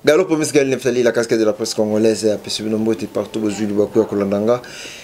Gallo Promise Gaël Neftali, la casquette de la presse congolaise, apesi bino mbote partout bozwi libaku ya kolanda nga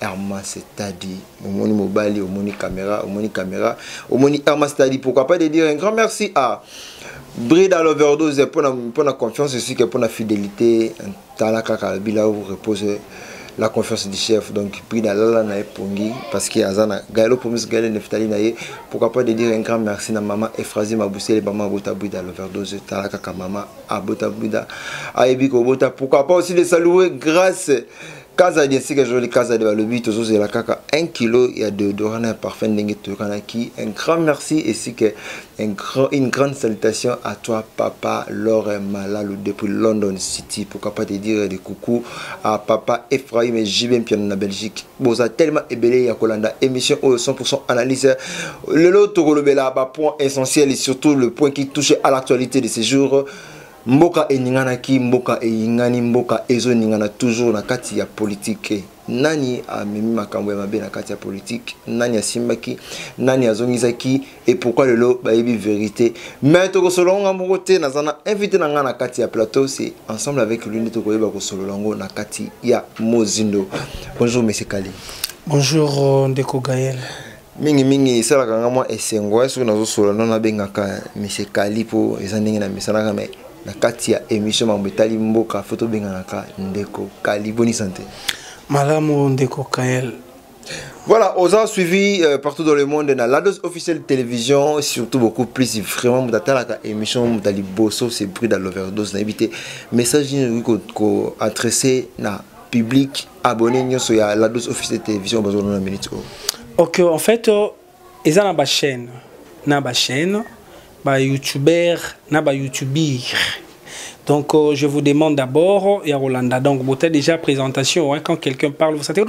Herman Setadi, omoni mobali, omoni caméra, omoni caméra, omoni Herman Setadi, pourquoi pas de dire un grand merci à Brida l'overdose pour la, pour la confiance aussi que pour la fidélité, talaka kalbila ou repose la confiance du chef. Donc Brida lala na pongi parce qu'il y a zana Gaëlo Promis Gaëlo Neftali na ye, pourquoi pas de dire un grand merci na maman Efrazi Mabousele maman Bota Brida l'overdose talaka ka maman Abota Brida. Ayebi ko Bota, pourquoi pas aussi de saluer grâce kazadi esika ezoli kazadi balobi tozozela kaka 1 kilo ya deodorant na ya parfum ndenge toyokanaki un grand merci esika un grand, une grande salutation à toi papa lore malalu depuis london city pourquoi pas te dire des coucou à papa ephraim et jb mpiano na belgique boza tellement ebele ya kolanda émission oyo 100% analyse lelo tokolobela bapoint essentiel et surtout le point qui touche à l'actualité de ces jours Mboka eninganaki, mboka eyingani, mboka ezoningana toujours na kati ya politike. Nani amemi makambo ya mabe na kati ya politike? Nani asimbaki? Nani azongisaki? Et pourquoi lelo bayebi verite? Mais tokosolola ngo nga moko te, naza na invité na nga na kati ya plateau, c'est ensemble avec lui nde tokoyeba kosolola ngo na kati ya mozindo. Bonjour monsieur Kali. Bonjour euh, ndeko Gaël. mingi mingi esalaka nga mwa esengo eh, soki nazosola no nabengaka eh, monsieur kali mpo eza ndenge na mesanaka mai na kati ya émission mambo etali mboka fo tobenganaka ndeko kali boni sante malamu ndeko kael Voilà, a suivi euh, partout dans le monde na la dose officielle télévision, surtout beaucoup plus vraiment mutatalaka émission mutali bosso c'est bruit dans l'overdose na éviter message ni ko adresser na public abonné nyoso ya la dose officielle télévision bazo na minute oyo ok en fait euh, eza na ba chaîne na ba chaîne ba youtubeur na ba youtubir donc euh, je vous demande d'abord ya Rolanda donc bote déjà présentation hein, quand quelqu'un parle vous savez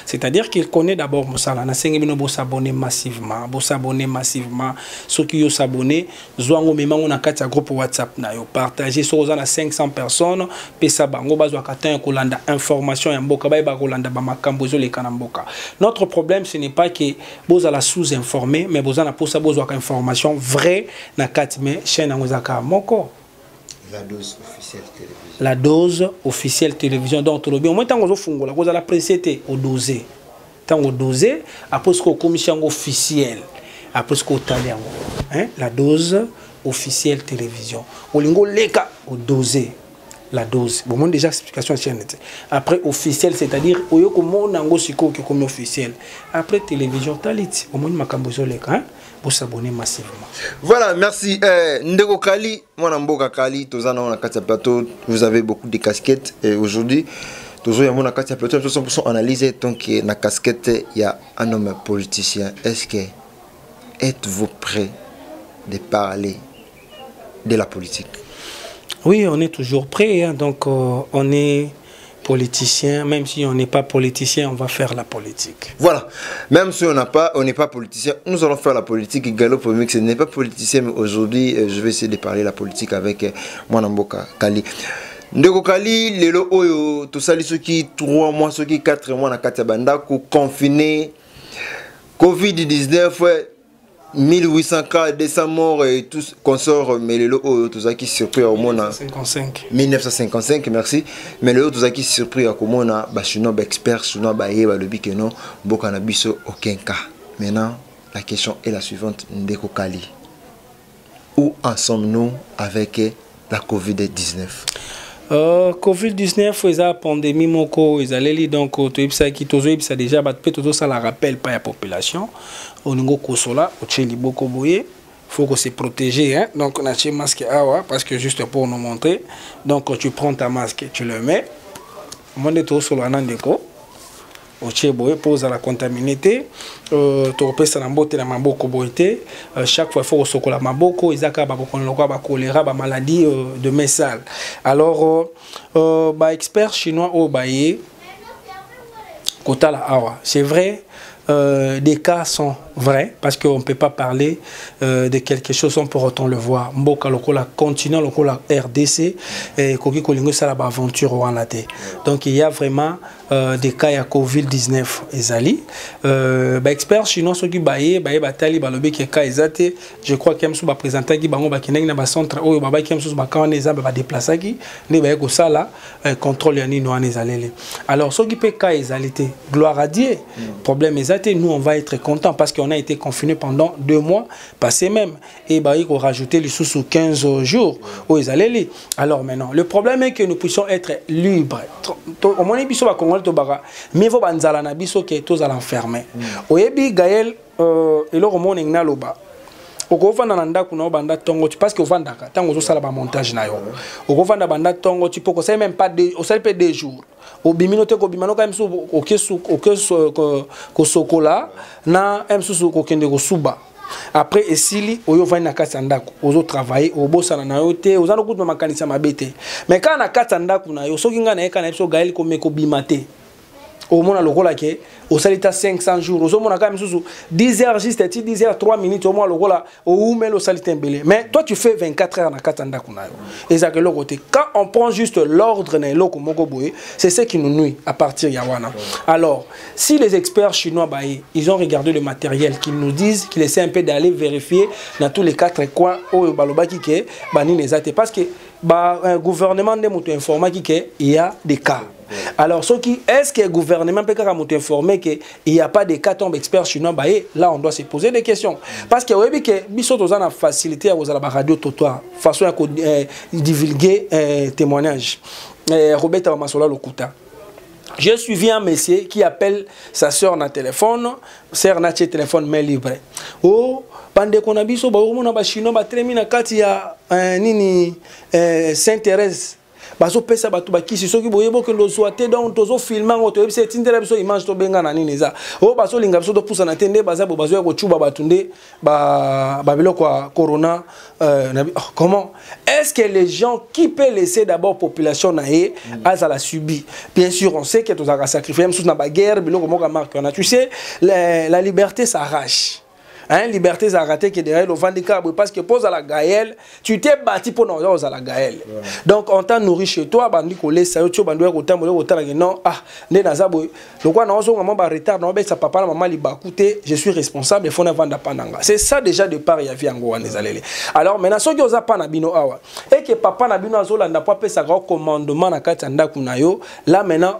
c'est-à-dire qu'il connaît d'abord mosala na sengi bino bo s'abonner massivement bo s'abonner massivement ceux qui yo s'abonner zwa ngo mema ngo na kati ya groupe whatsapp na yo partage soki oza na 500 personnes pesa bango bazwaka temps ya kolanda information ya mboka bayeba kolanda bamakambo ezoleka na mboka notre problème ce n'est pas que bozala sous informé mais boza na mposa bozwaka information vrai na kati mais chaîne yango ezaka moko la dose officielle télévision la dose officielle télévision donc tolobi omoi ntango ozofungola kozala presse te odose ntango dose apres soki okomisi yango officiel apres soki otali yango la dose officielle télévision olingi oleka odose la dose bomoni déjà explication ya chaîne te après officiel c'est-à-dire oyo komona yango sikoyo okomi officiel après télévision taliti omoni makambo ezoleka bosabone massivement voilà merci euh, ndeko kali mwana mboka kali toza nango na kati ya plateau vous avez beaucoup de casquettes et aujourd'hui tozo yango na kati ya plateau 100% analyse donc na casquette ya un homme politicien est-ce que êtes-vous prêt de parler de la politique oui on est toujours prêt hein, donc euh, on est politicien, même si on n'est pas politicien, on va faire la politique. Voilà, même si on n'a pas, on n'est pas politicien, nous allons faire la politique. Galop ce n'est pas politicien, mais aujourd'hui, euh, je vais essayer de parler la politique avec euh, Mwanamboka Kali. ndeko kali lelo oyo tosali soki 3 mois soki 4 mois na kati ya bandako confine covid-19 1800 cas 200 morts et tout consort mais lelo oyo tozalaki surpris ya komona 1955 merci mais lelo tozalaki surpris ya komona bachinois baexpert chinois baye balobi ke non mboka na biso aucun cas maintenant la question est la suivante ndeko kali Où en sommes-nous avec la COVID-19 Uh, covid-19 eza pandémie moko ezaleli donc euh, toyebisaki tozoyebisa déjà bato mpe tozosala rappel pa ya population olingi okosola otye liboko boye faut que se protéger hein? donc natye masque awa parce que juste pour nous montrer donc tu prends ta masque tu le mets omoni nde tozosolola na ndeko otie boye mpo ozala contamine te euh, tokopesana mbote na maboko boye te euh, chaque fois faut kosokola maboko eza kaka babokono lokola bakolera bamaladie euh, de main sale alors baexpert chinois oyo baye kotala awa c'est vrai Euh, des cas sont vrais parce qu'on ne peut pas parler euh, de quelque chose sans pour autant le voir. Mboka lokola continent lokola RDC et koki kolingo sala ba aventure wana te. Donc il y a vraiment euh, des cas ya Covid-19 ezali. Euh, ba experts chinois soki baye baye batali balobi ke cas ezate, je crois que msu ba présenter ki bango ba kinengi na ba centre oyo ba ba ki msu ba kawana eza ba déplacer ki ne baye ko sala eh, contrôle ya nini wana ezaleli alors soki mpe cas ezali te gloire à dieu mm. problème eza te nous on va être content parce qu'on a été confiné pendant deux mois passé même et bayi korajouter lisusu 15 jours oyo ezaleli alors maintenant le problème est que nous puissions être libre omoni biso bakongoli tobaka mieux vaut banzala na biso ke tozala enfermé mm. oyebi gaël Euh, eloko moko ndenge naloba okofanda na ndako na yo banda ntongo ti parce que ofandaka ntango ozosala bamontage na yo okofanda banda ntongo ti mpo kosali meme pas osali mpe deux jours obimi no te kobima no kaka mosusu oke kosokola na mosusu kokende kosuba après esili oyo ovandi na kati ya ndako ozotravaille obosana na yo te oza nokutu na makanisi ya mabe te mais kaka na kati ya ndako na yo soki ngai na ye kaka na ye biso gael komekobima te omona lokola ke osali ta 500 jours ozomona kaka misusu 10 heures juste ti 10 heures 3 minutes omona lokola oumeli osali te mbele mais toi tu fais 24 heures na kati ya ndako na yo ezalaka eloko te quand on prend juste l'ordre na eloko moko boye c'est ce qui nous nuit à partir ya wana alors si les experts chinois baye ils ont regardé le matériel qu'ils nous disent qu'il essaie un peu d'aller vérifier dans tous les quatre coins oyo balobaki ke banini eza te parce que ba euh, gouvernement nde moto informaki ke il y a des cas alors soki est ce que gouvernement peut kaka moto informé que il y a pas de cas tombe expert chinois bah eh, là on doit se poser des questions parce que oyebi que biso toza na facilité ya kozala ba radio totoir façon ya ko eh, divulguer eh, témoignage eh, robeta bamasola lokuta J'ai suivi un monsieur qui appelle sa soeur na téléphone, soeur na téléphone mais libre. Oh, bandeko na biso baokomona bachinois batelemi na kati ya eh, nini eh, saint thérèse bazopesa bato bakisi soki boyebi okende ozwa te donc tozofilme yango toyebisa etindela biso image tobenga na nini eza oyo oh, bazolinga biso topusana te nde baza bo bazoya kocuba bato nde babiloko ya corona euh, na, oh, comment est ce que les gens qui peut laisser d'abord population na ye mm. azala subi bien sûr on sait que tozalaka sacrifier mosusu na baguerre biloko moko ya marque wana tu sais la, la liberté s'arrache Hein, liberté ezalaka te que derrière ovandi kaka boye parce que mpo ozala gael tu t'es bâti mpo na oza ozala gael donc on t'a nourri chez toi bandi kolesa yo ti obandi oya kotambola okotala ke non ah nde naza boye lokola naozonga mwa baretard naobetisa papa na mama libaku te je suis responsable efo navanda mpa na nga c'est ça déjà de part ya vie yango wana ezaleli alors maintenant soki oza mpa na bino awa eke papa na bino azolanda mpo apesaka yo commandement na kati ya ndako na yo là maintenant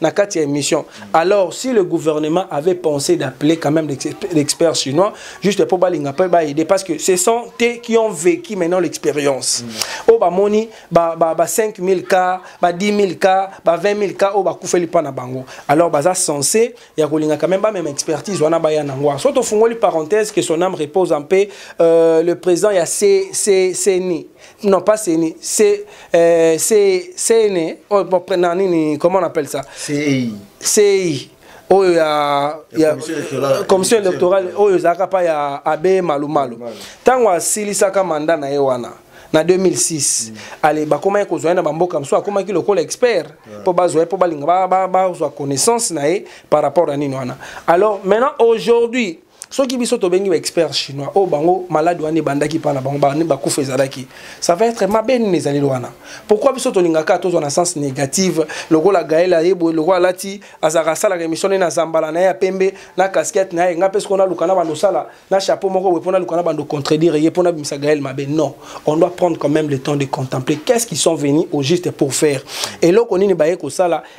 na kati ya émission alors si le gouvernement avait pensé d'appeler quand même l'expert chinois juste pour balinga pe ba aider parce que ce sont eux qui ont vécu maintenant l'expérience au mm. ba moni ba ba, ba 5000 cas ba 10000 cas ba 20000 cas au ba kufeli pa na bango alors baza censé ya kolinga quand même ba même expertise wana ba ya nangwa so to fungoli parenthèse que son âme repose en paix euh, le président ya C C CNI non pas CENI, c'est euh, CENI, oh, bon, non, nini, comment on appelle ça CEI. CEI. oyo oh, ya, ya commission électorale oyo oh, ezalaka mpa ya abe malumalu ntango asilisaka manda na ye wana na 2006 mm. ale bakomaki kozwa ye na bamboka mosusu akomaki lokola expert mpo yeah. bazwa ye mpo balinga bazwa ba, ba, connaissance na ye par rapport ya nini wana alors maintenant aujourd'hui soki biso tobengi ba expert chinois oyo oh, bango malade wana ebandaki mpa na bango bakufa ezalaki ça va être mabe nini ezaleli wana pourquoi biso tolingaka tozwa na sens négative lokola gael ayeboye lokola alati azalaka asalaka émission ne na zambala na ye ya pembe na casquette na ye ngai mpe soko naluka na bando osala na chapeau moko boye mpo naluka na bando contredire ye mpo nabimisa gael mabe non on doit prendre quand même le temps de contempler qu'est ce qu'ils sont venus au juste pour faire eloko nini baye kosala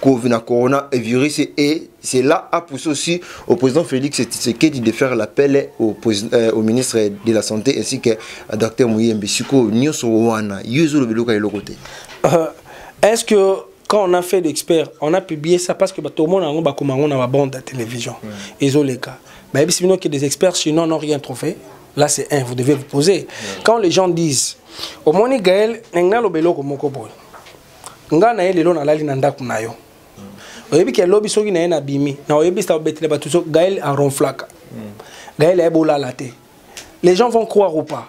Covid na corona et virus et c'est là a poussé aussi au président Félix Tshisekedi de faire l'appel au, euh, au ministre de la santé ainsi que à docteur Mouyembe siko nyoso wana yezo lobelo ka eloko te euh, est-ce que quand on a fait l'expert on a publié ça parce que ba tout le monde en ba koma ngona ba bande de télévision mm. ezo leka ba yebisi bino que des experts sinon n'ont rien trouvé là c'est un vous devez vous poser mm. quand les gens disent au moni Gaël nengna lobelo ko moko boy nga na ye lelo nalali na ndako na yo oyebi ke lobi soki na ye nabimi na oyebisa obetele bato so gael aronflaka hmm. gael ayebi olala te les gens vont croire ou pas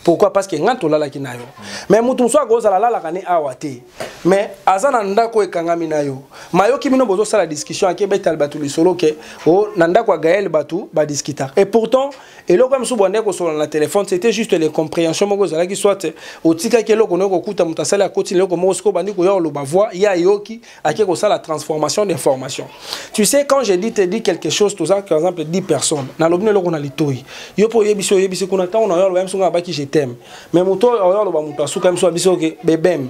pourquoi parce que nga tolalaki na yo mais moto mosusu akozala alalaka ne awa te mais aza na ndako ekangami na yo mayoki bino bozosala discussion akebetala bato lisolo ke o oh, na ndako ya gael bato badiskita et pourtant eloko ya mosusu bwandaki kosolola na telefone c'était juste les comprehension moko ezalaki soit otikaki eloko noki kokuta moto asali akoti na eloko moko sikoyo bandi koya koloba voix ye ayoki ake kosala transformation d'information tu sais quand je dis te dis quelque chose toza par exemple 10 personnes nalobi na eloko na litoi yo mpo oyebisi oyebisi kuna ntango na yo aloba ya miso ngai abaki je t'aime mais moto oyo oyo aloba moto asuka ya miso ya biso oke bebem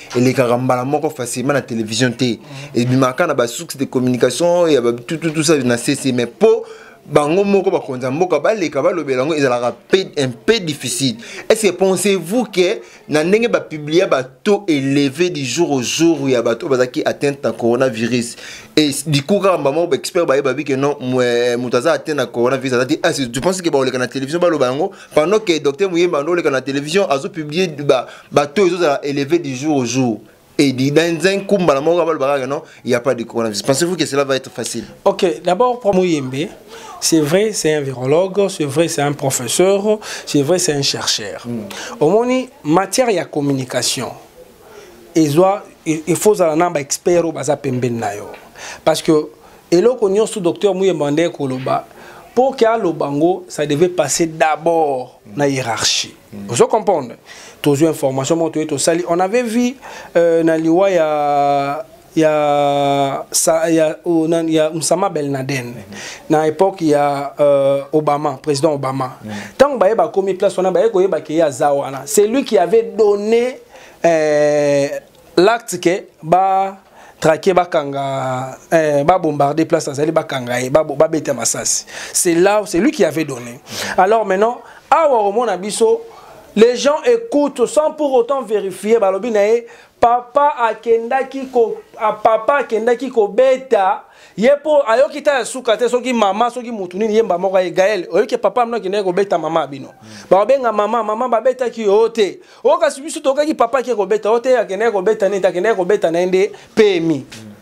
elekaka mbala moko facilement na télévision te ebimaka na basuxe de communication ya batututusa na sese mais mpo bango moko bakonzi ya mboka baleka balobela yango ezalaka un peu difficile est ce que pensez vous que na ndenge bapublia bato élevé du jour au jour ya bato oyo bazalaki atteinte na coronavirus e liku kaka mbala moko baexpert baye babi ke non moto aza atteinte na coronavirus aza te ah, tu pense ke bakoleka na télévision baloba yango pendant que docteur muyemba andoleka na télévision azopublie bato ezozala élevé du jour au jour et dit dans un coup mbala moko abalobaka que non il n'y a pas de coronavirus pensez-vous que cela va être facile ok d'abord pour muyembe c'est vrai c'est un virologue c'est vrai c'est un professeur c'est vrai c'est un chercheur mm. omoni matière ya communication ezwa il faut ozala na ba expert oyo baza pembeni na yo parce que eloko nyonso docteur muyemba nde koloba mpo ke aloba yango ça devait passer d'abord na hiérarchie mm. ozo comprendre tozwi information moko toye tosali on avait vu euh, na liwa ya ya sa ya oh, na, ya Msama Belnaden mm -hmm. na époque ya euh, Obama président Obama mm -hmm. tango baye bakomi place wana baye koyeba ke ya za wana c'est lui qui avait donné euh, l'acte que ba traquer bakanga euh, ba bombarder place azali bakanga ye ba babeta masasi c'est là c'est lui qui avait donné mm -hmm. alors maintenant awa omona biso les gens écoutent sans pour autant vérifier balobi na ye papa akendaki ko papa akendaki kobeta ye mpo ayoki ta ya suka te soki mama soki motu nini yemba moko ye gael oyoki papa mino akendaki kobeta mama ya bino mm. bakobenga mama mama babetaki yo te o kasi biso toyokaki papa ake kobeta o te akendaki kobeta nini te akendaki kobeta na ye nde pemi mm.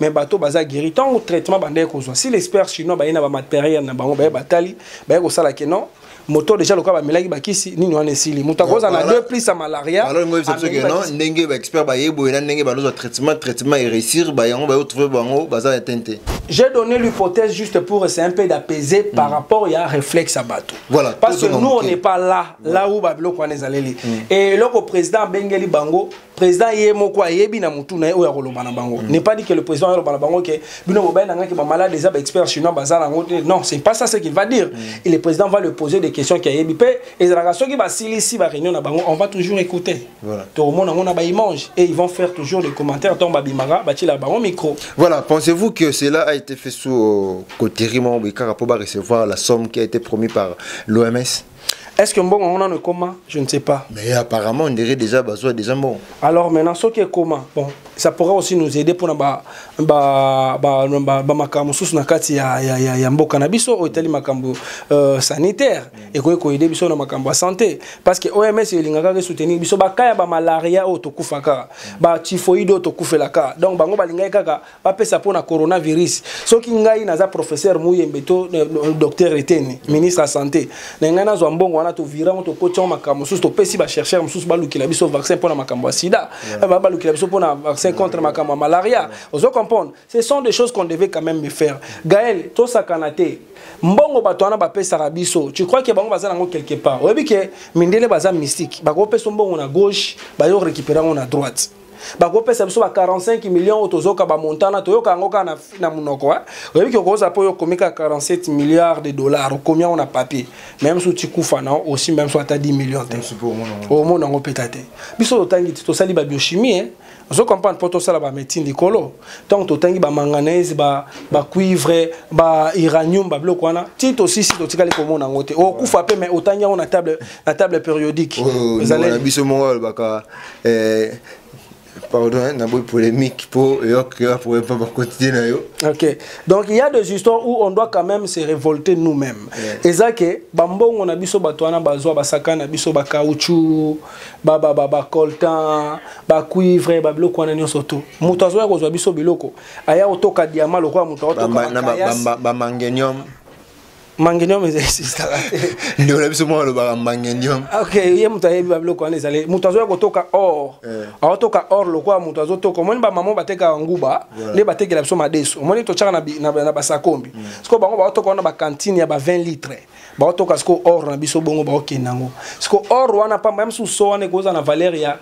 mais bato baza guéri ntango traitement bandaki kozwa si l'expert chinois baye na bamateriel na bango baye batali baye kosala ke non moto deja lokola bamelaki bakisi nini wana esili moto akoza na deux plus ya malaria ndenge baexpert baye boye na ndenge banozwa traitement traitement eréussir bayango baye otrouve bango baza ya tente J'ai donné l'hypothèse juste pour essayer un peu d'apaiser mm. par rapport à réflexe à bateau. Voilà. Parce que nous, on n'est pas là, là où Babylon Kwanezaleli. Mm. Et le président Bengeli Bango, président ye moko ayebi na mutu na ye oyo akoloba na bango mm. n'est pas dit que le président aloba na bango ke bino bobai na ngai ke bamalade eza baexpert chinois baza nango te non c'est pas ça ce qu'il va dire mm. et le président va le poser des questions ki ayebi mpe ezalaka soki basilisi baréunion na bango on va toujours écouter voilà. tokomona yango na baimage et ils vont faire toujours des commentaires ntango babimaka batiela bango micro voilà pensez-vous que cela a été fait sous euh, coterie moko boye kaka mpo barecevoir la somme qui a été promis par l'oms Est-ce que mbongo on en comment Je ne sais pas. Mais apparemment, on dirait déjà besoin déjà bon. Alors maintenant, ce qui est comment Bon, ça pourrait aussi nous aider pour ba ba ba ba ba makambo sous na kati ya ya ya, ya mboka na biso o etali makambo euh, sanitaire mm. et ko ko aider biso na makambo santé parce que OMS elingaka ke soutenir biso ba kaya ba malaria o tokufaka mm. ba typhoïde o tokufelaka donc bango balingaka kaka bapesa mpo na coronavirus soki ngai naza professeur muyembe to eh, eh, docteur eteni ministre ya santé na ngai nazwa mbongo wana tovira yango tokoti yango makambo mosusu topesi bachercheur mosusu balukela biso vaccin mpo na makambo ya sida eh, balukela biso mpo na vaccin contre makambo ya malaria ozo comprendre ce sont des choses qu'on devait quand même me faire gael tosakana te mbongo bato wana bapesaka biso tu crois ke bango baza nango quelque part oyebi ke mindele baza mystique bakopesa mbongo na gauche bayo récupérer yango na droite bakopesa biso ba 45 millions oyo tozoka bamontana toyoka yango kaka na, na monoko oyebi ke okozala mpo yo okomi kaka 47 milliards de dollars okomi yango na papier meme so tikufa na osi meme so ata 10 millions te omona yango mpeka te biso totangi te tosali babiochimie eh? ozo comprendre mpo tosala bamédecine likolo ntango totangi bamanganese bacuivre ba bairanium babiloko wana ti tosisi totikali komona yango te okufa mpe mai otangi yango na table périodique biso moko alobaka eh, pardon hein, na boy polémique po yok yo pour pas ba quotidien na yo OK donc il y a des histoires où on doit quand même se révolter nous-mêmes yeah. eza que ba mbongo na biso bato wana bazwa ba saka na biso ba caoutchouc ba ba ba, ba coltan ba cuivre ba biloko wana nyonso to moto azoya kozwa biso biloko aya otoka diamant lokola moto aotoka ba, ba, ba, ba, ba, ba mangenium mangenium existaka te ndeko na biso moko alobaka mangenium ok ye moto ayebi babiloko wana ezali moto azoya kotoka or eh. aotoka or lokola moto azotoka omoni bamama batekaka nguba nde batekela biso madesu omoni totyaka na basakombi mm. sikoyo bango baotoka wana bakantine ya ba 20 litre baotoka sikoyo or na biso bongo baokenda yango sikoyo or wana pamba ya mosusu so wana ekozala na valeur ya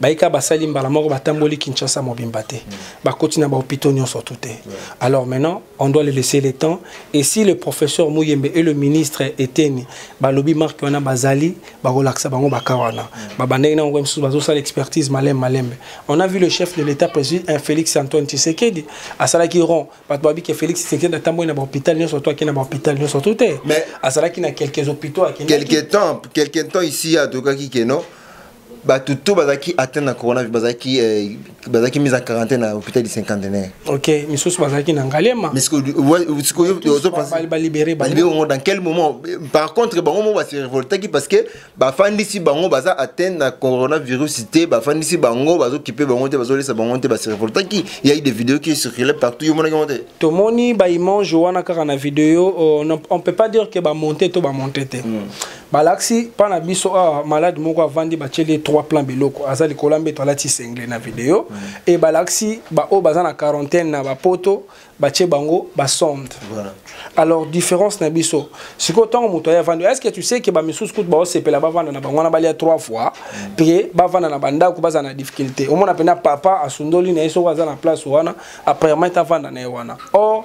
bayika basali mbala moko batamboli kinshasa mobimba te mm. bakoti na bahopitaux nyonso tout te alors maintenant on doit le laisser le temps et si le professeur muyembe et le ministre eteni balobi marke wana bazali bakolakisa bango baka wana mm. babandaki nango mosusu bazosala expertise malembe malembe on a vu le chef de l'état président euh, félix antoine tshisekedi asalaki rond bato babi ke félix tshisekedi atamboli na bahôpital nyonso to akei na bahôpital nyonso tout te azalaki na quelques hôpitaux akendaki quelque temps quelque temps ici atokaki keno bato to bazalaki atteint na coronavirus bazalaki eh, bazalaki mise en quarantaine na hôpital du cinquantenaire ok misusu bazalaki na ngalema balibere bango dans quel moment par contre bango mo base révoltaki parce que bafandisi bango baza atteint na coronavirus te bafandisi bango bazokipe bango te bazolesa bango te base révoltaki ya eu des vidéos qui circulaient partout yo monaki yango te tomoni baimage wana kaka na video euh, on peut pas dire que bamonte to bamonte te hmm. balakisi mpa na biso awa ah, malade moko avandi batyeli ye trois plan biloko aza likolo ya mbeto alati sengle na video mm. e balakisi baoyo baza na quarantaine na bapoto batye bango basonde voilà. alors différence na biso sikoyo ntango moto aye avandi est ce que tu sais ke bamisusu kutu baosepela bavanda na bango wana balia trois fois mm. mpe bavanda na bandako bazala na difficulté omona mpena papa asundoli na ye soko aza na place wana apparemment avanda na ye wana or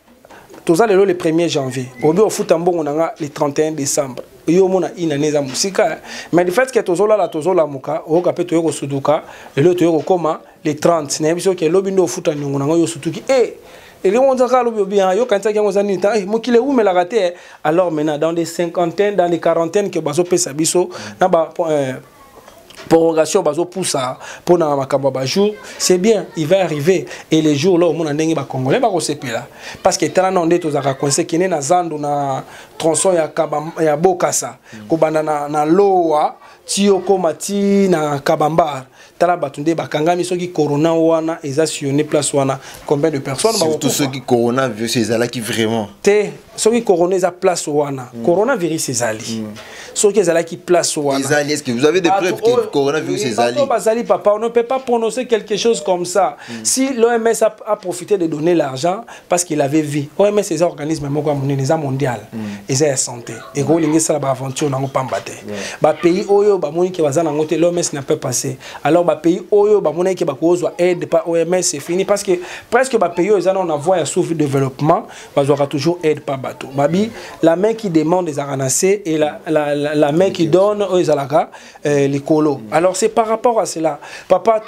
toza lelo le 1er janvier obi ofuta mbongo na nga le 31 décembre yo omona une année eza mosika mais le fait que tozolala tozolamuka oyoka mpe toye kosuduka lelo toye kokoma le 30 nayebi soki elobi nde ofuta niongo na ngo yo osutuki e eh, elingi onza kaka lobi obi ah, yokanisaki yango eza nini ta eh, mokili ewumelaka te eh. alors maintenant dans des cinquantaines dans des quarantaines ke bazopesa biso na ba prorogation bazopusa mpo na makambo ya bajour c'est bien il va arriver et les jours là omona ndenge bacongolais bakosepela parce que tala nao nde tozalaka coince kende na zando na tronçon ya, kaba, ya bokasa mm. kobanda na, na lowa ti okóma ti na kabambar tala bato nde bakangami soki corona wana eza sillonne place wana combien de personnes surtout soki corona virus ezalaki vraiment te soki corona eza place wana mm. coronavirus ezali mm. soki ezalaki place wana ezali est-ce que vous avez des preuves que coronavirus ezali bazali papa on ne peut pas prononcer quelque chose comme ça mm. si l'OMS a, a profité de donner l'argent parce qu'il avait vu OMS eza organisme moko ya monene eza mondial mm. eza ya santé et ko lingi sala ba aventure nango pamba te ba pays oyo ba moni ke baza nango te l'OMS n'a pas passé alors ba pays oyo ba moni ke ba kozwa aide par OMS c'est fini parce que presque ba pays oyo eza na voie ya sous-développement bazwaka toujours aide pa bato babi la main qui demande ezalaka na se et la, la, la, la main qui donne oyo ezalaka euh, likolo alors c'est par rapport à cela papa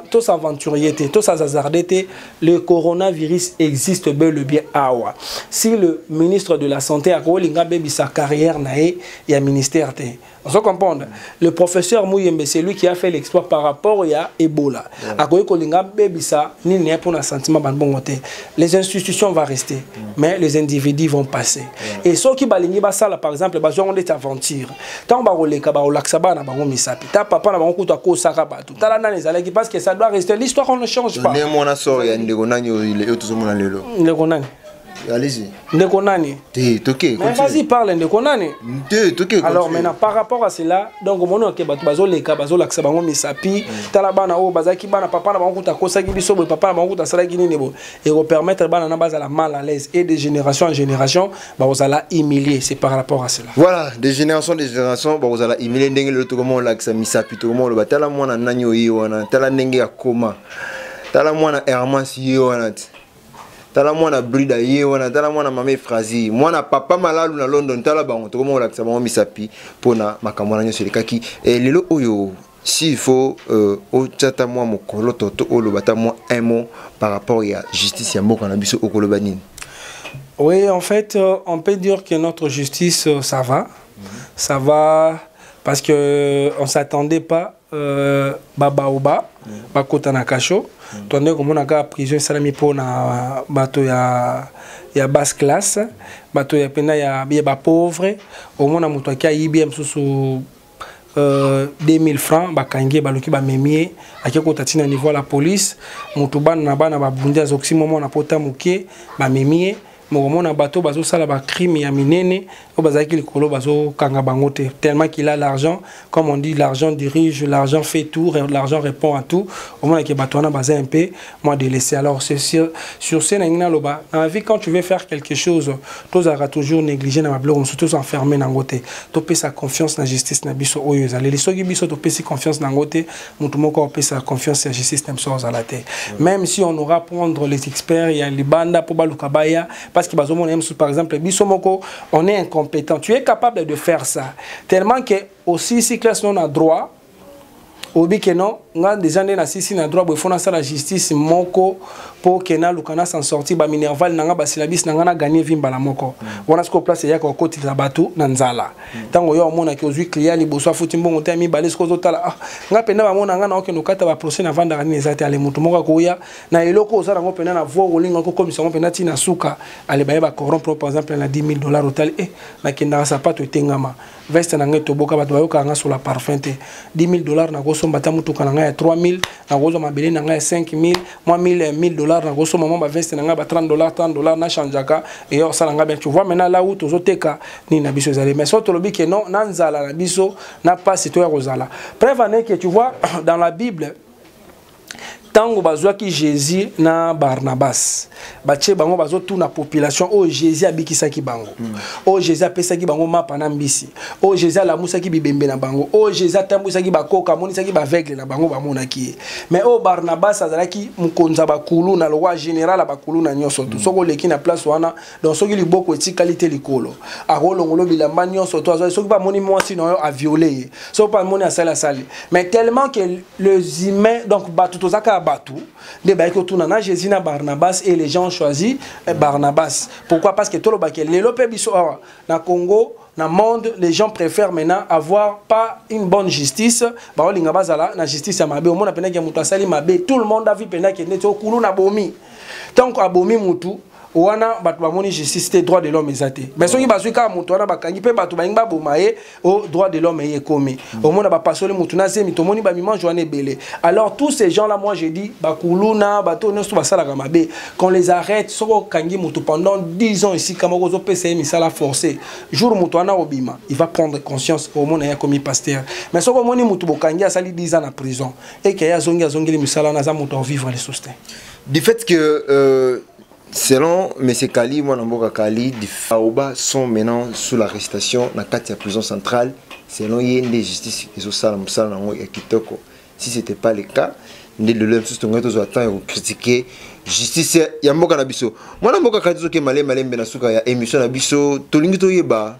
tosaventurier te tosazazarde te le coronavirus existe bel le bien awa si le ministre de la santé akolinga abebisa carrière na ye ya ministère te ozo comprendre le professeur Muyembe c'est lui qui a fait l'exploit par rapport ya Ebola yeah. akoki kolinga bebisa nini ya pona sentiment banbongo te les institutions va rester mm. mais les individus vont passer yeah. et soki balingi basala par exemple bazwango ndeti aventure ntango bakoleka bakolakisa bana bango misapi ta papa na bango kutu akosaka bato tala nani ezalaki parce que ça doit rester l'histoire on ne change pas ndenge mwana sor ya ndeko nani oyo tozomona lelo ndeko nani Allez-y. Ndeko nani Te, toke. Mais vas-y, parle ndeko nani Te, toke. Alors maintenant, par rapport à cela, donc mon que bato bazo leka, bazo lakisa bango misapi, mm. tala bana oyo bazaki bana papa na bango kuta kosaki biso boye papa na bango kuta salaki nini boye. Et ko permettre bana na bazala mal à l'aise et de génération en génération, ba ozala humilié, c'est par rapport à cela. Voilà, de génération de génération, ba ozala humilié ndenge le to comment lakisa misapi to comment le batala mwana nani oyo wana, tala ndenge ya koma. Tala mwana Hermas yo wana. tala mwana brida ye wana tala mwana mama efrazi mwana papa malalu na london tala bango tokoma kolakisa bango misapi mpona makambo wana nyonso elekaki e, lelo oyo si il faut euh, otya ata mwa mokoloto to oloba ata mwa un mot par rapport ya justice ya mboka na biso okoloba nini oui en fait euh, on peut dire que notre justice euh, ça va mm -hmm. ça va parce que euh, on s'attendait pas Euh, babaoba bakota na kasho tonde komona kaka prison esalami mpo na bato ya, ya basse classe bato ya mpena ya, ya bapauvre omona moto aki ayibi ya mosusu euh, 2000 francs bakangi ye baluki bamemi ye ake kota ntina niveau ya la police moto bana na bana babundi azokisi mwa mwana mpota moke bamemi ye mokomona bato bazosala bacrime ya minene oyo bazalaki likolo bazokanga bango te tellement qu'il a l'argent comme on dit l'argent dirige l'argent fait tout l'argent répond à tout omonake bato wana baza un peu moi délaissé alors sur, sur ce nangi naloba na vie quand tu veux faire quelque chose tozalaka toujours négligé na babiloko mosusu tozoenferme nango te topesa confiance na justice na biso oyo ezaleli soki biso topesi confiance nango te mutu moko apesa confiance ya justice na biso azala te même si on aura prendre les experts ya libanda mpo baluka baya parce que bazomona ye mosusu par exemple biso moko on est incompétent tu es capable de faire ça tellement que osilisi classe non na droit oyebi ke non nga deja nde nasisi na droit boye fo nasala justice moko mpo ke naluka na s'en sortir baminerval na nga basilabisi na nga na gagne vi mbala moko wana sikoyo place eyaka kokotilisa bato na nzala ntango yo omonaki ozwi client liboso afuti mbongo te ya mibale soki ozotala ah, nga mpenza bamona nga na okende okata baprocès navandaka nini eza te ale moto moko akoya na eloko oza nango mpenza na voi olinga kokomisa yango mpenza ntina suka ale baye bacorrompre par exemple na 10 000 dollar otali e nakendaka sapato etengama veste na ngai toboka bato bayokaka nga sola parfum te 10 000 dollar nakosomba ata motuka na ngai ya 3 000 nakozwa mabele na ngai ya 5 000 mwa 1000 1000 dollar nakosomba mwa baveste na ngai ba 30 dollar 30 dollar nachangeaka eyo osala ngai bien tu vois maintenant la où tozoteka nini na biso ezali mais soki tolobi ke non na nzala na biso na mpasi toya kozala preuve ane ke tu vois dans la bible ntango bazwaki jésus na barnabas batie bango bazotuna population oyo jésus abikisaki bango mm. oyo jésus apesaki bango mapa na mbisi oyo jésus alamusaki bibembe na bango oyo jésus atambwisaki bakoka amonisaki baaveugle na bango bamonaki ye mais oyo barnabas azalaki mokonzi ya bakulu na lokwa général ya bakulu na nyonso tu mm. soki oleki na place wana donc soki liboko etikali te likolo akolongolo bilamba nyonso to azwaki soki mpe amoni mwasi na yo aviole ye soki mpe amoni asali asali mais tellement que les humains donc bato toza kaka bato nde bayaki kotuna na jésus na barnabas et les gens choisi eh, barnabas pourquoi parce que tolobaki lelo mpe biso awa na congo na monde les gens préfèrent maintenant avoir pas une bonne justice baolinga bazala na justice ya mabe omona mpenaki ya moto asali mabe tout le monde avi mpenaki neti okulu na bomi ntango abomi motu wana bato bamoni justice te droit de l'homme eza te mais soki bazwi kaka moto wana bakangi mpe bato balingi baboma ye o oh, droit de l'homme eye ekomi mm. omona bapasoli motu na zemi tomoni bamimange wana ebele alors tous ces gens là moi je dis bakuluna bato oyo nyonso basalaka mabe qu'on les arrête soki okangi motu pendant 10 ans esika moko ozopesa ye misala forcé jour moto wana obima il va prendre conscience omona ye akomi pasteur mais soki omoni motu bokangi asali 10 ans na prison eke ye azongi azongeli misala wana aza moto akovivre lisusu te du fait que euh, selon M. Kali, moi Namboka Kali, des Faoba sont maintenant sous l'arrestation dans la prison centrale. Selon Yende Justice, ils ont ça, ils ont ça, Kitoko. Si ce n'était pas le cas, nde lelo ya mosusu tongai tozwa temps ya kokritike justice ya mboka na biso mwana mboka kati tozokema le malembe na suka ya émission na biso tolingi toyeba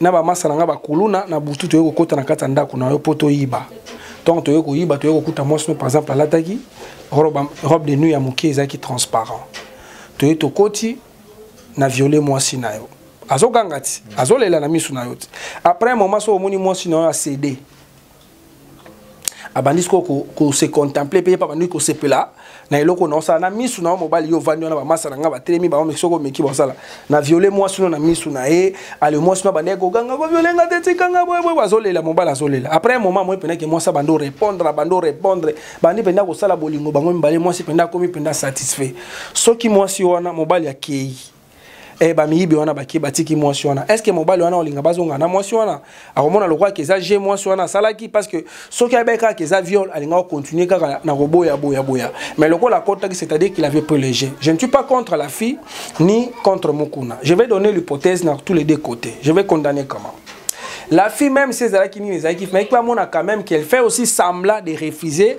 na bamasa na ngai bakuluna na butu toyei kokota na kati ya ndako na yo mpo toyiba ntango toyei koyiba toyei kokuta mwasi no par exemple alataki robe de nuit ya moke ezalaki transparent toyei tokoti na viole mwasi na yo azoganga ti azolela na miso na yo ti après moma so omoni mwasi na yo asede abandi sikoyo kose contemple mpe ye mpe abandi kosepela na eloko na osala na misu na yo mobali yo ovandi wana bamasa na ngai batelemi bango soko omeki basala na viole mwasi no na misu na ye ale mwasi no abandaki koganga koviole nga te tika nga boyeboye bazolela mobali azolela après moment moi mpendaki mwasi abandi orépondre abandi orépondre bandi mpenza kosala bolingo bango mibale mwasi mpenza akomi mpenza satisfait soki mwasi wana mobali akei eh, bamiyibi wana bake batiki mwasi wana estce mobali wana olinga bazonga na mwasi wana akomona lokola ke eza je mwasi wana asalaki parce que soki ayebai kaka ke eza viol alingaka kocontinue kaka na koboya boya boya mais lokola akotaki c'est-à-dire qu'il avait pris le jeu je ne suis pas contre la fille ni contre mokuna je vais donner l'hypothèse na tous les deux côtés je vais condamner comment la fille même si ezalaki nini ezalaki mais ekipe amona quand même qu'elle fait aussi semblant de refuser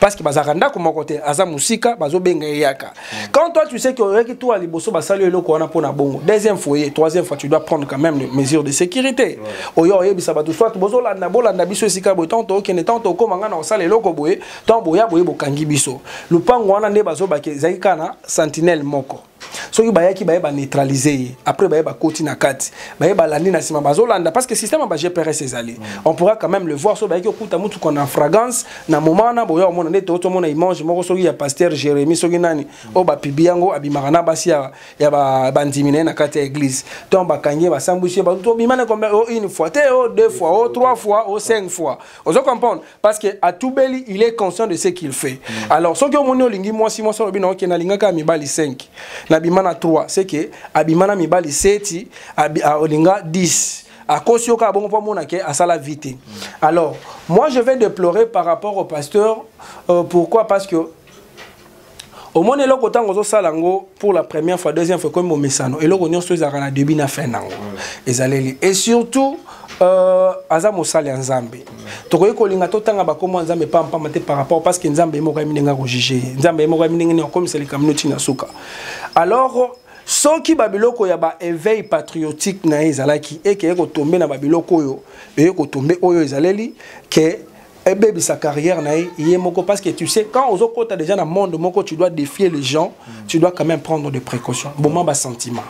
parce que bazalaka ndako moko te aza mosika bazobenga ye yaka mm. quand toi tu sais que oyaki tour ya liboso basali yo eloko wana mpo na bongo deuxième foyer troisième fois tu dois prendre quand même les mesures de sécurité oyo oyebisa bato soit bozolanda bolanda biso esika boye ntango tookende ntango tokóma ngai na kosala eloko boye ntango boya boye bokangi biso lopango wana nde bazobaki ezalaki kaka na sentinelle moko soki bayaki baye baneutralise ye après baye bakoti na kati baye balandi na nsima bazolanda parce que système ya ba gprs ezali mm. on pourra quand même le voir soki bayaki okuta motuka na fragrance na moment wana boya omona nde to tomona image moko soki ya pasteur jérémie soki nani mm. oyo bapibi yango abimaka na basi ya bandimi na ye na kati ya église donc bakangi ye basambwisi ye bato tobima na oh, une fois te o oh, deux fois o oh, trois fois o cinq fois ozo comprendre parce que atubeli il est conscient de ce qu'il fait mm. alors soki omoni olingi mwasi mwasi olobi na oke nalingaka mibali 5 nabima na 3 c'est que abima na mibali 7 olinga 10 akosi yo kaka bongo mpo amona ke asala vie te alors moi je vais déplorer par rapport au pasteur euh, pourquoi parce que omoni eloko ntango ozosala yango pour la première fois deuxième fois ekomi momesano eloko nyonso ezalaka na début na fin na yango ezaleli et surtout euh, aza mosali ya nzambe tokoki kolinga totanga bakombo ya nzambe pampama te par rapport parce que nzambe ye moko ayemi ndenge akojuge ye nzambe ye moko ayemi ndenge nini akomisa likambo noti na suka alors soki babiloko ya baeveil patriotique na ye ezalaki ekeye kotombe na babiloko oyo eye kotombe oyo ezaleli ke ebebisa carrière na ye ye moko parce que tu sais quand ozokota déjà na monde moko tu dois défier les gens mm. tu dois quand même prendre des précautions boma ba sentiment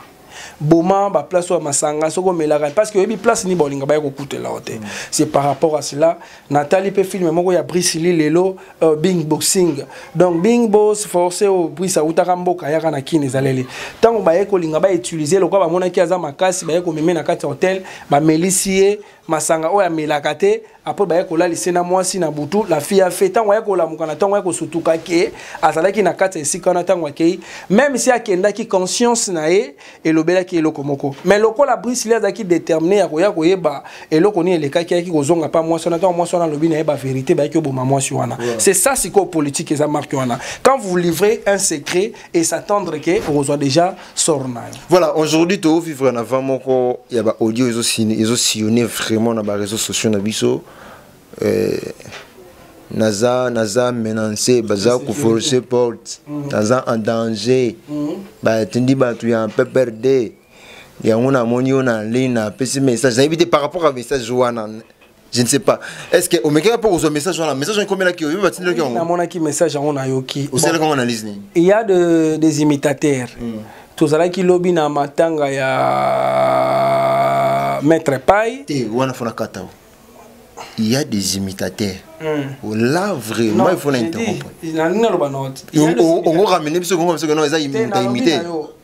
boma ba place oyo masanga soko omelaka parce que oyebi place ni bolinga baye kokutela yo te mm. c'est par rapport à cela natali mpe filme moko ya brisili lelo euh, bing boxing donc bing bos force oyo bris awutaka mboka ayaka na kini ezaleli ntango baye kolinga bautilize lokola bamonaki aza makasi baye komeme na kati ya hotel bamelisi ye masanga oyo amelaka te apres baye kolalise na mwasi na butu la fille ya fe ntango aye kolamuka na ntango aye kosutuka ke azalaki na kati ya esika wana ntango akei meme si akendaki conscience na ye elobelaki eloko moko mais lokola brisili azalaki determine ya koya koyeba eloko nini elekaki ayaki kozonga mpa mwasi wana ntango mwasi wana alobi na ye baverité bayaki oboma mwasi wana c'est ça sikoyo politike eza marke wana quand vous livrez un secret et s'attendre que okozwa déjà sort na yo voilà aujourd'hui tovivre na vent moko ya baaudio ezosillonne vraiment na bareseau sociaux na biso euh, naza naza menance baza koforce porte mhm. naza en danger mhm. batindi bato ya pprd yango namoni yo na ligne napesi message nayebi te par rapport ya message wana je ne sais pas est ce que omekaka mpo kozwa message wana message wana ekomelaki yo yo batindelaki yango namonaki message yango nayoki osalaki yango analyse nini il y a de, des imitateurs mm. tozalaki lobi na matanga ya maître pai te eh, wana fona kata il y a des imitateurs mm. là vraiment il faut na interrompre on ramène biso kongo biso non eza imita imite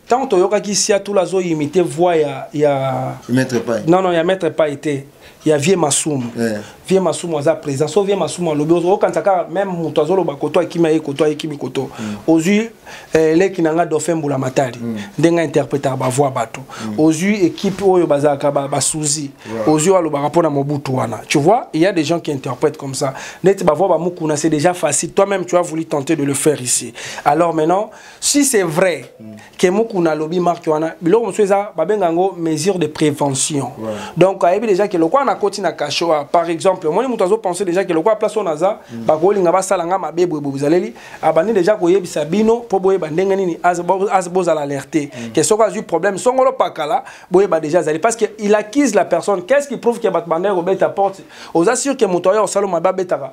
ntango toyokaki siatula azo imite voix ya ya maître pai non non ya maître pai te ya vie masumu yeah. vie masumu aza présent so vie masumu alobi okanisa kaka meme moto azoloba koto akimi aye koto ayekimi koto mm. ozwi eh, leki na nga dauphin mbula matali mm. ndenge ainterpretaka bavoix bato mm. ozwi équipe oyo bazalaka basuzi ba yeah. ozwi oyo alobaka mpo na mobutu wana tu vois il y a des gens qui interprètent comme ça neti bavoix bamukuna c'est déjà facile toi même tu as voulu tenter de le faire ici alors maintenant si c'est vrai que mukuna alobi marque wana biloko mosusu eza babenga yango mesure de prévention ouais. donc ayebi déjà ke lokola nakoti na cachot ah, par exemple omoni moto azopense déjà ke lokola place oyo naza mm. bakolinga basala nga mabe boye boye bozaleli abandi déjà koyebisa bino mpo boyeba ndenge nini bozala alerte mm. ke soki azwi problème songolo pakala boyeba déjà azali parce que il accuse la personne qu'est ce qui prouve ke bato bandaki kobeta porte oza sûr ke moto ayo osala mabe abetaka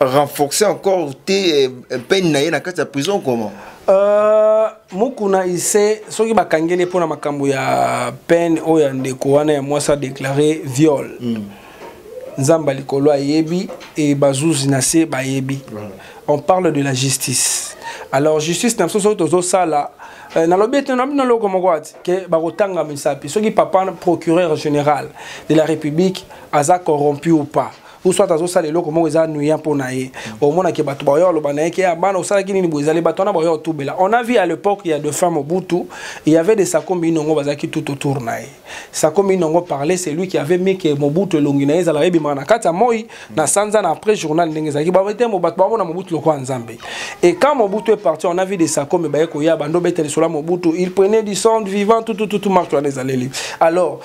renforcer encore te eh, peine na ye na kati ya prison comment euh, mukuna ise soki bakangeli mpo na makambo ya peine oyo ya ndeko wana ya mwasi adeklare viol mm. nzambe ya likolo ayebi e bazuzi na se bayebi voilà. on parle de la justice alors justice na biso soki tozosala Euh, nalobi ete na bino eloko moko ati ke bakotanga misapi soki papa procureur général de la république aza corrompu ou pas ou soit azosala eloko moko eza nuya mpo na ye omonake bato baoya oloba na ye ke ah, bana osalaki nini boye ezali bato wana baoya otubela on a vu à l'époque ya de femme obutu il y avait des sakombi inongo bazalaki tout autour na ye sakombi inongo parler c'est lui qui avait mis ke mobutu elongi na ye ezalaka ebimaka na kati ya moi na sanza na après journal ndenge ezalaki babete bato baomona mobutu lokola nzambe et quand mobutu est parti on a vu des sakombi baye koya bando betele sola mobutu il prenait du sang vivant tout tout tout marche wana ezaleli alors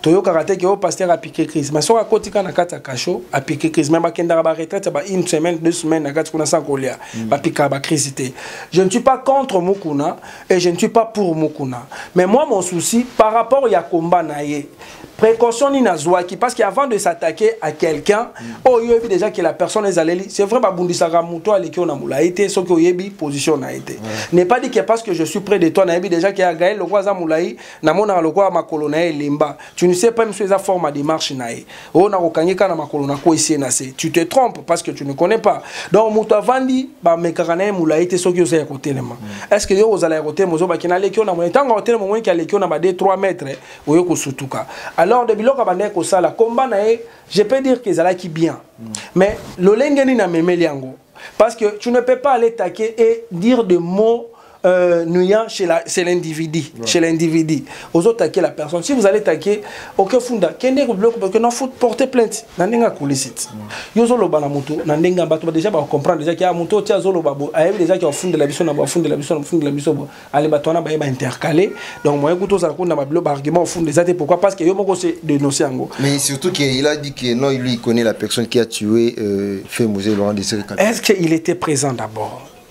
toyokaka te ke oyo oh, pasteur apike crise ma soki akoti kaka na kati ya kasho apike crise ma bakendaka baretraite ya ba une semaine deux semaine na kati kuna sans kolia mm. bapikaka bacrise te je ne suis pas contre mukuna et je ne suis pas pour mukuna mais moi mon souci par rapport ya combat na ye précaution nini azwaki parce que avant de s'attaquer à quelqu'un mm. oyo oh, oyebi déjà que la personne ezaleli c'est vrai babundisaka moto aleki oyo na molai te soki oyebi position na ye te n'est pas dit que parce que je suis près de toi nayebi déjà que ya gael lokwa aza molai namonaka lokola makolo na ye elemba tu ne sais pas miso eza forme ya démarche na ye oyo nakokangi kaka na makolo nakwesi ye na se tu te trompe parce que tu ne connais pas donc moto avandi bamekaka na ye molai te soki oza ya kotelema mm. est ce que yo ozala ya kotelema ozobaki naleki yo na moi ntango akotelema omoniki aleki yo na ba 2 3 mètre oyo kosutuka alors de biloko abandaki kosala komba na ye je peux dire que ezalaki bien mm. mais lolenge nini amemeli yango parce que tu ne peux pas aller taquer et dire de mots euh, nuya chez la c'est l'individu ouais. chez l'individu ozo taquer la personne si vous allez taquer ok funda kende ko bloque parce que na faut porter plainte na ndenge akulisite mm. yo zo loba na moto na ndenge ya bato déjà ba comprendre déjà que ah, moto tia zo loba bo ayebi déjà que funda la biso na ba funda la biso na funda la biso bo allez bato wana ba ba intercaler donc moyen kuto za ko na ba bloque argument funda ça c'est pourquoi parce que yo moko se dénoncer yango mais surtout que il a dit que non lui il connaît la personne qui a tué euh, fait Moselle Laurent Desiré Est-ce qu'il était présent d'abord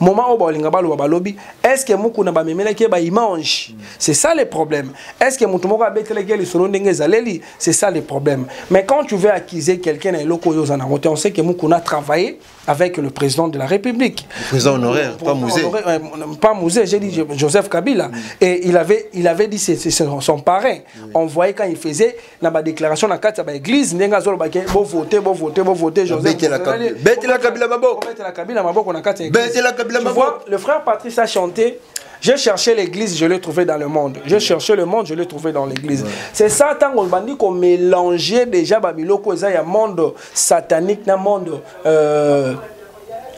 moment oyo balinga baloba balobi est ce que mukuna bamemelaki ye baimange mm. c'est ça le problème est ce que moto moko abetelaki ye lisolo ndenge ezaleli c'est ça le problème mais quand tu veux accuser quelqu'un na eloko oyo oza nango te on sait que mukuna travaille avec le président de la république le président honoraire pas musée euh, pas musée j'ai dit joseph kabila mm. et il avait, il avait dit c'est son parrain mm. on voyait quand il faisait na ba déclaration na kati ya ba église ndenge azoloba ke bo voter bo voter bo voter Joseph betela kabila betela kabila maboko betela kabila maboko na kati ya église betela kabila maboko le frère Patrice a chanté J'ai cherché l'église, je l'ai trouvé dans le monde. J'ai cherché le monde, je l'ai trouvé dans l'église. C'est ça, tant qu'on bandit qu'on mélangeait déjà Babiloko, il y a monde satanique, un monde euh,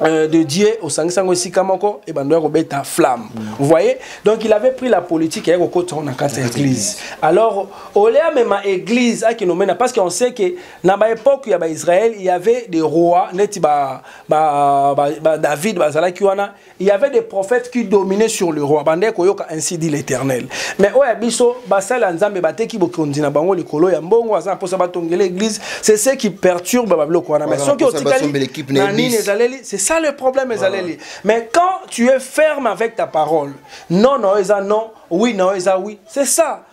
Euh, de Dieu au sangisango esika moko et bando ya kobeta flamme vous voyez donc il avait pris la politique ya kokota na kati ya église alors olea mema église akinomena parce qu'on sait que na ba époque ya ba Israël il y avait des rois neti ba ba, ba, ba David bazalaki wana il y avait des prophètes qui dominaient sur le roi bandai koyoka ainsi dit l'éternel mais oyo ya biso basali ya nzambe bateki bokonzi na bango likolo ya mbongo aza na mposa batongela église c'est ce qui perturbe babiloko wana mais soki otikali na nini ezaleli c'est ça le problème ezaleli mais quand tu es ferme avec ta parole non na oyo eza non oui na oyo eza oui c'est ça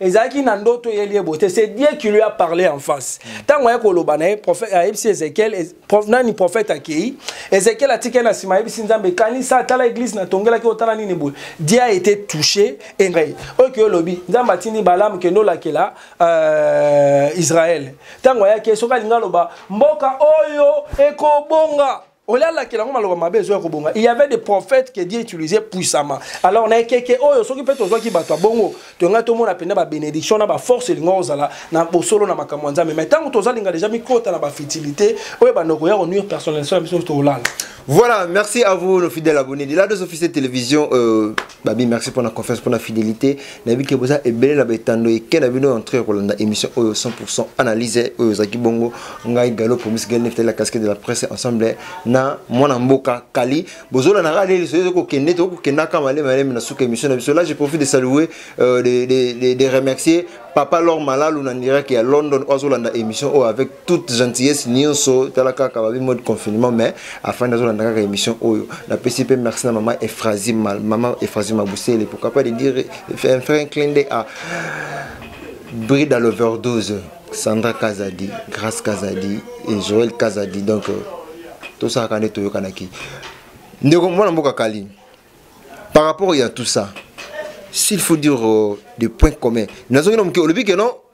ezalaki na ndoto ye liebo te c'est dieu qui lui a parlé en face ntango aye koloba na ye ayebisi ezekiel nani prophète akei ezekiel atikali na nsima ayebisi nzambe kanisa atala église natongelaki otala nini boye dieu a été touché engai oyo kei olobi nzambe atindi balamu kende olakela euh, israel ntango ayaki soki alingi aloba mboka oyo ekobonga olie alakela yango maloba mabe ezoya kobonga il y avait des prophètes que dieu utilisait puissamment alors na ekeke oyo soki mpe tozwaki bato ya bongo toyongai tomona mpenza babénédiction na baforce elinga kozala na bosolo na makambo ya nzambe mai ntango tozalinga deja mikota na bafutilité oyo ebanda koya konuire personnalisation ya biso tolala Voilà, merci à vous, nos fidèles abonnés de la Dose Officielle Télévision. Euh, Babi, merci pour la confiance, pour la fidélité. nayebi ke boza ebele na baetando eke na bino entre kolanda émission oyo 100 analyse oyo ozalaki bongo ngai galo promis gel neftali la casquette de la presse ensemble na mwana mboka kali bozolanaka leli soki ezokokende tokokendaka malema malema na suka émission na biso là je profite de saluer euh, de, de, de, de remercier papa lor malalu na ndiraki ya london oyo azolanda émission oyo avec toute gentillesse nionso tala kaka babi mode confinement mais afin nazolanda kaka émission oyo napesi mpe merci na mama efrazi mama efrazi mabusele pourquoi pas de dire un frère clin d'œil à bride à l'overdose sandra kazadi grace kazadi et joël kazadi donc euh, tosalaka nde toyokanaki ndeko mwana mboka kali par rapport ya tout ça s'il faut dire euh, des points communs nazongi na moke olobi ke non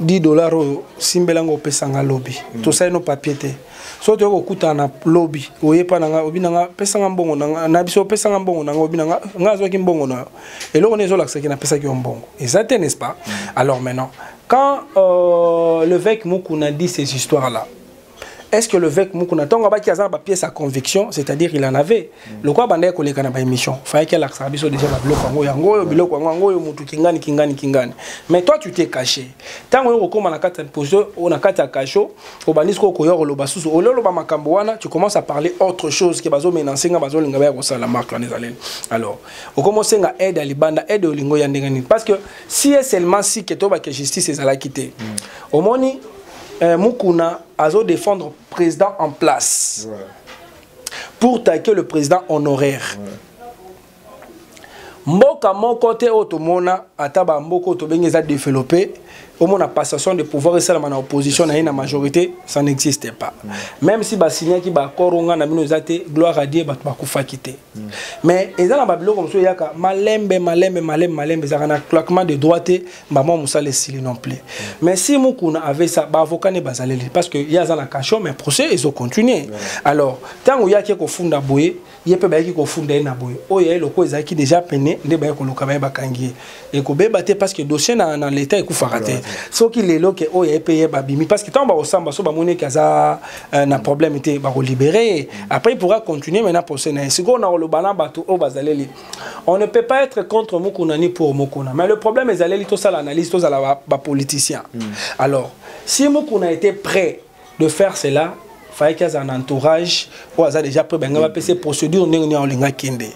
10 dollars oyo simbela ngo opesa nga lobi mm. tosali no papier te so toyei kokutana na lobi oye mpa na nga obi na nga pesa nga mbongo na biso opesa nga mbongo na nga obi na nga nga azwaki mbongo na yo eloko nini ezolakisaki napesaki yo mbongo eza te n'est-ce pas mm. alors maintenant quand euh, l'évêque mukuna dit ces histoires là est ce que le vec mukuna ntango abaki aza na bapièce ya conviction c'est à dire il en avait mm. lokola abandaki koleka na baémission fayaki alakisaka biso déjà babiloko yango yango oyo biloko yango yango oyo motu kingani kingani kingani mais toi tu t'es caché ntango oyo kokóma na kati ya position na kati ya kasho obandi sikoyo koya koloba susu olio oloba makambo wana tu commence à parler autre chose ke bazomenanse nga bazolinga baya kosala marque wana ezaleli alors okoma osenga aide ya libanda aide ya olingo ya ndenge nini parce que si e seulement si ke toyebake justice ezalaki te mm. omoni eh, mukuna azo défendre président en place ouais. pour taquer le président honoraire ouais. mboka moko te oyo tomona ata bamboka oyo tobengi eza développe omona passation de pouvoir esalama na opposition na ye na majorité ça n'existe pas mm. même si basignaki baaccord onga na bino eza te gloire à dieu bato bakufaki te mais eza na babiloko mosusu eyaka malembe malembe malembe malembe ezalaka na claquement de droit te mbamwa mosala esili non plus mais si mukuna avait ça baavocat ne bazaleli parce que ye aza na cachon mais procès ezo continuer alors ntango ye ake kofunda boye ye mpe bayaki kofunda ye na boye oyo yaye lokola ezalaki déjà pene nde baye koluka baye bakangi ye ekobeba te parce que dossier na, na leta ekufaka te soki lelo ke oyo oh, epeye babimi parce que ntango bakosamba so bamoni eke aza euh, na problème te bakolibere ye après il pourra continuer maintenant procès na ye sikoyo na koloba na bato oyo oh, bazaleli on ne peut pas être contre mokuna ni pour mokuna mais le problème ezaleli tosala analyse tozala bapoliticien ba hmm. alors si mokuna était prêt de faire cela fayaki azala na entourage oyo aza déjà près balinga bapesa procédure ndenge nini aolinga akende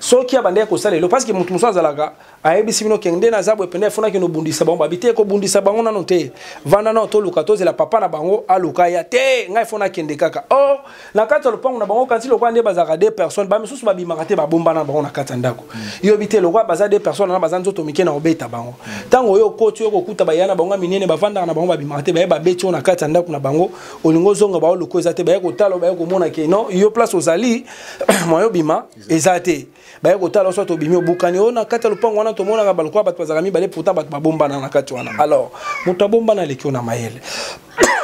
soki abandaki kosala elo parce que moto mosusu azalaka ayebisi bino kenge nde naza boye mpena efonaki nobundisa bango babi te kobundisa bango nano te vanda nao toluka tozela papa na bango aluka ya te ngai fona akende kaka or oh, na kati ya lopango na bango kanti lokola nde bazalaka de personne bamisusu babimaka te babombana na bango na kati ya ndako mm. yobi te lokola baza de personne wana baza nzoto mike na kobeta bango ntango oyo okoti oyo kokuta baya na bango ya minene bafandaka na bango babimaka te baye babeti oyo na kati ya ndako na bango olingi ozonga bao loko eza te baye kotala baye komona ke no yo place ozali mwayo bima eza te baye kotala oso tobimi obukani oyo na kati ya lopango wana tomonaka balokola bato bazalaka mibale pota bato babombana na kati wana alors moto abombana aleki yo na mayele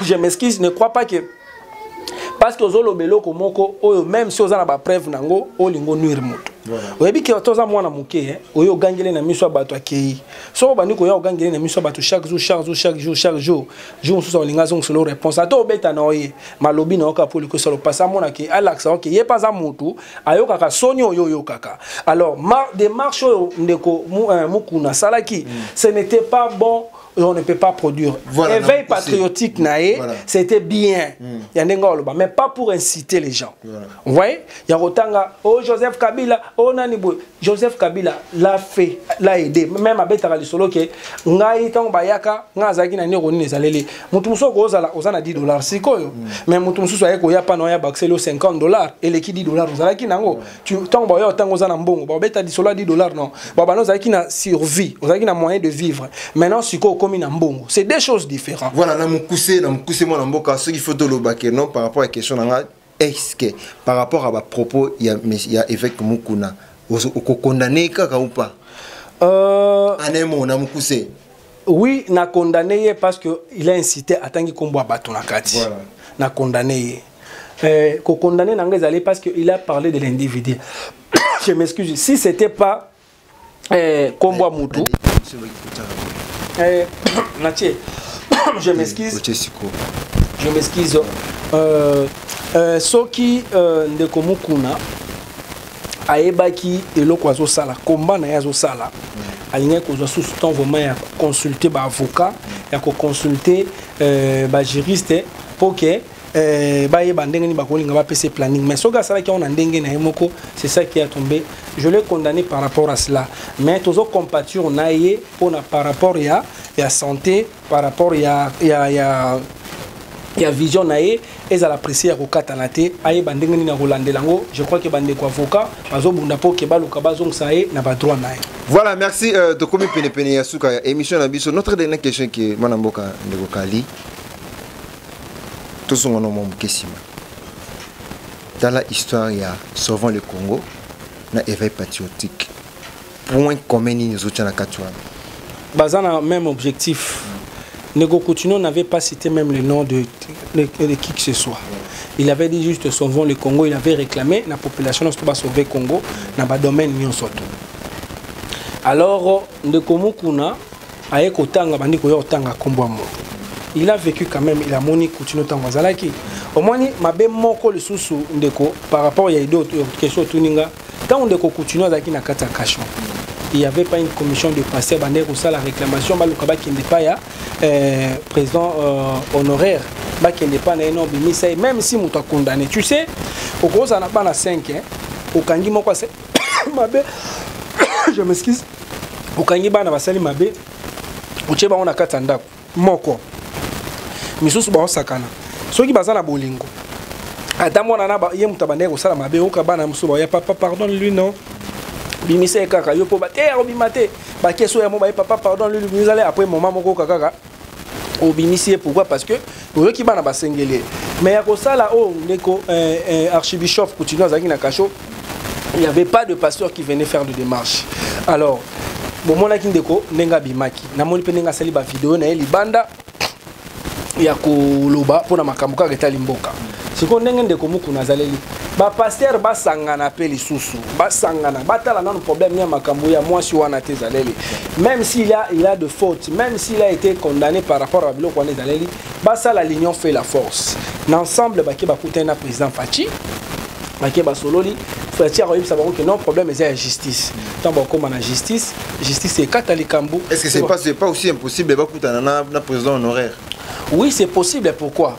je m'excuse ne crois pas que parce que ozoloba eloko moko oyo même si oza na bapreuve na yango olingi onuire moto oyebi ke toza mwana moke eh? oye ogangeli na miso ya bato akei soki obandi koya ogangeli na miso ya bato chaque jour chaque jour chaque jour chaque jour jour mosusu olingi azongiselo réponse ata obeta na oye malobi na yo kaka mpo olikosala opasi amona ke alakisa oke ye mpe aza motu ayokaka soni oyo oyokaka alors ma démarche oyo ndeko euh, mukuna asalaki mm. ce n'était pas bon on ne peut pas produire voilà, éveil non, patriotique na ye voilà. c'était bien mm. ya ndenge oloba mais pas pour inciter les gens voilà. vous voyez ya kotanga o oh, joseph kabila o oh, nani boye joseph kabila la fait la aide meme abetaka lisolo ke ngai ntango bayaka ngai azalaki na nioko nini ezaleli moto mosusu okozala oza na 10 dollars sikoyo mm. mais moto mosusu aye koya pana oya bakiseli yo 50 dollars eleki 10 dollars ozalaki na yango ntango baoya ntango oza na mbongo babeta lisolo ya 10 dollars non babana ozalaki na survie ozalaki na moyen de vivre maintenant sikoyo okomi na mbongo c'est deux choses différentes voilà na mokuse na mokuse mwana mboka soki faut tolobake non par rapport ya question na ngai est-ce que par rapport à ba propos ya, ya évêque Mukuna okokondane kaka ou pas euh... anemo na mukuse oui na condamné ye parce que il a incité atangi kombo ya bato na kati voilà. na condamné ye euh, kokondane na ngai ezali parce que il a parlé de l'individu je m'excuse si c'était pas eh, kombo ya mutu eh, natie je m'excuse je m'excuse euh, euh, soki euh, ndeko mukuna ayebaki eloko azosala komba na ye azosala alingaki kozwa susu temps vraiment ya koconsulte baavocat ya koconsulte euh, bajuriste mpo ke Euh, bayeba ndenge nini bakolinga bapesa planning mais soki asalaki yango na ndenge na ye moko c'est ça qui a tombé je l'ai condamné par rapport à cela mais tozo compature na ye mpona par rapport ya ya santé par rapport ya ya ya ya vision na ye ezala presse ya kokatana te ayeba ndenge nini akolandela yango je crois ke bandeko avocat bazobunda mpo ke baluka bazongisa ye na badroit na ye voilà merci euh, tokomi penepene ya suka ya émission na biso notre dernière question ke mwana mboka ndeko kali tozonga na mwa moke nsima tala histoire ya sauvant le congo na éveil patriotique point commun nini ezotya na kati wana baza na même objectif Nego Coutinho n'avait pas cité même le nom de, de, de, qui que ce soit. Il avait dit juste sauvons le Congo, il avait réclamé la population de sauver Congo dans le domaine Nyon Soto. Alors, Ndeko Mukuna, aye kotanga bandi koya kotanga nkombo ya moto il a vécu quand même il a moni kutino ntango azalaki omoni mabe moko lisusu ndeko par rapport ya idée question otuni nga ntango ndeko kutino azalaki na kati ya cachon il y avait pas une commission de passé bandeki kosala réclamation baluka bakende epai ya euh, président euh, honoraire bakende epai na ye na obimisa ye même si moto akondane tu sais okozala na bana 5 okangi moko mabe je m'excuse okangi bana basali mabe otie bango na kati ya ndako moko misusu baosakana soki baza na bolingo ata mwana na ye moto abandaki kosala mabe oyoka bana mosusu baoya papa pardon lui non bimisa ye kaka yo mpo bateya kobima te bakesi oyo ya mo baye papa pardon lui bimisale après moma moko oyoka kaka obimisi ye pourquoi parce que oyoki bana basengeli ye mais ya kosala oyo oh, ndeko eh, eh, archibishop coutinho azalaki na cachot il n'y avait pas de pasteur qui venait faire de démarche alors bomonaki ndeko ndenge abimaki namoni mpe ndenge asali bavideo na ye libanda ya koloba mpo na makambo kaka etali mboka sikoyo ndenge ndeko mukuna azaleli bapaster basangana mpe lisusu basangana batala nano problème ya makambo ya mwasi wana te ezaleli même si il a, il a de faute même s'il a été condamné par rapport ya biloko wana ezaleli basala l'union fait la force na ensemble bake bakutani na président faci bake basololi faci akoyebisa bango ke non problème eza ya justice ntango bakoma na justice justice ekata likambo est ce que c'est pas, pas aussi impossible bakutana na, na président honoraire oui c'est possible pourquoi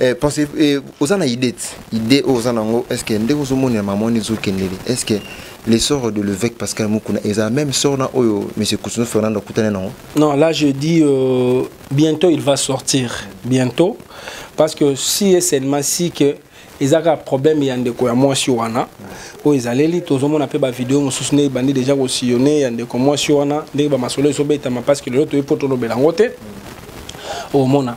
Eh, pensez, eh, oza na idée idée oyo oza nango est ce que ndenge ozomonela mama wana ezokendele est ce que les sorts de l'évêque Pascal Mukuna et la même sort na oyo monsieur Kusuno Fernando Koutane non Non, là je dis euh, bientôt il va sortir. Bientôt parce que si et seulement si que ezaka problème ya ndeko ya mwasi wana oyo ezaleli tozomona mpe bavideo mosusu nde ebandi deja kosillone ya ndeko mwasi wana ndenge bamasolo ezobetama parce que lelo toyebi mpo tolobela yango te omona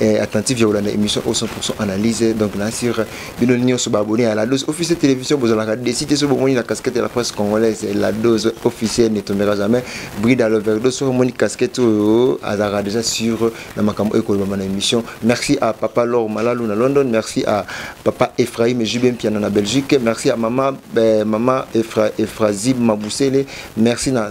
eh, attentif ya kolanda émission au 100% analyse donc na sur bino nyonso baabonné ya la dose officielle télévision bozalaka décide so bomoni na casquette ya la presse congolaise la dose officielle ne tombera jamais brida loverdo soki omoni casquette oyo azalaka déjà sur na makambo oyo ekolobama na émission merci à papa lor malalu na london merci à papa ephraim jube mpiana na belgique merci à mama eh, mama Ephra, ephrazib mabusele merci na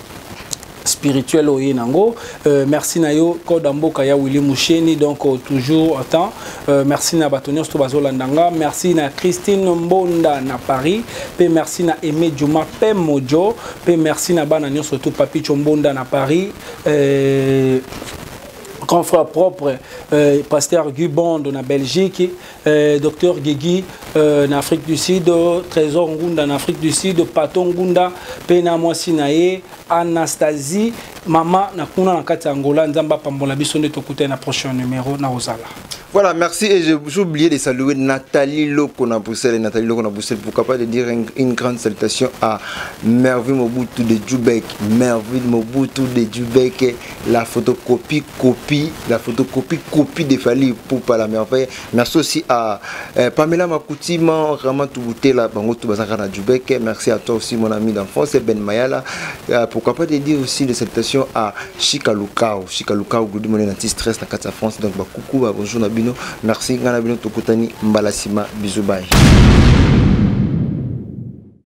spirituel oye nango euh, merci na yo code ya mboka ya willi musheni donc euh, toujours temps euh, merci na bato nyonso to bazolanda nga merci na christine mbonda na paris mpe merci na aime juma mpe mojo mpe merci na bana nyonso to papicho mbonda na paris euh, grand frère propre euh, pasteur Guy Bond na Belgique Euh, docteur Guigui euh, na Afrique du Sud, Trésor Ngunda na Afrique du Sud, Pato Ngunda mpe na mwasi na ye Anastasie mama na kuna na kati ya Angola nzambe apambola biso nde tokutani na prochain numéro na ozala Voilà, merci. Et j'ai oublié de saluer Nathalie Loco na Bruxelles et Nathalie Loco na Bruxelles. Pourquoi pas de dire une, une grande salutation à Merville Mobutu de Djoubek. Merville Mobutu de Djoubek. la photocopie copie la photocopie copie de Fally pour pas la merveille na sosi à euh, Pamela Makutima vraiment tout bouté là bango tout bazaka na Djubek merci à toi aussi mon ami d'enfance Ben Mayala euh, pourquoi pas te dire aussi des salutations à Chika Lukao Chika Lukao Glody mon anti stress na Katia France donc ba coucou ba bonjour na bino merci ngana bino tokutani mbalasima bisous bye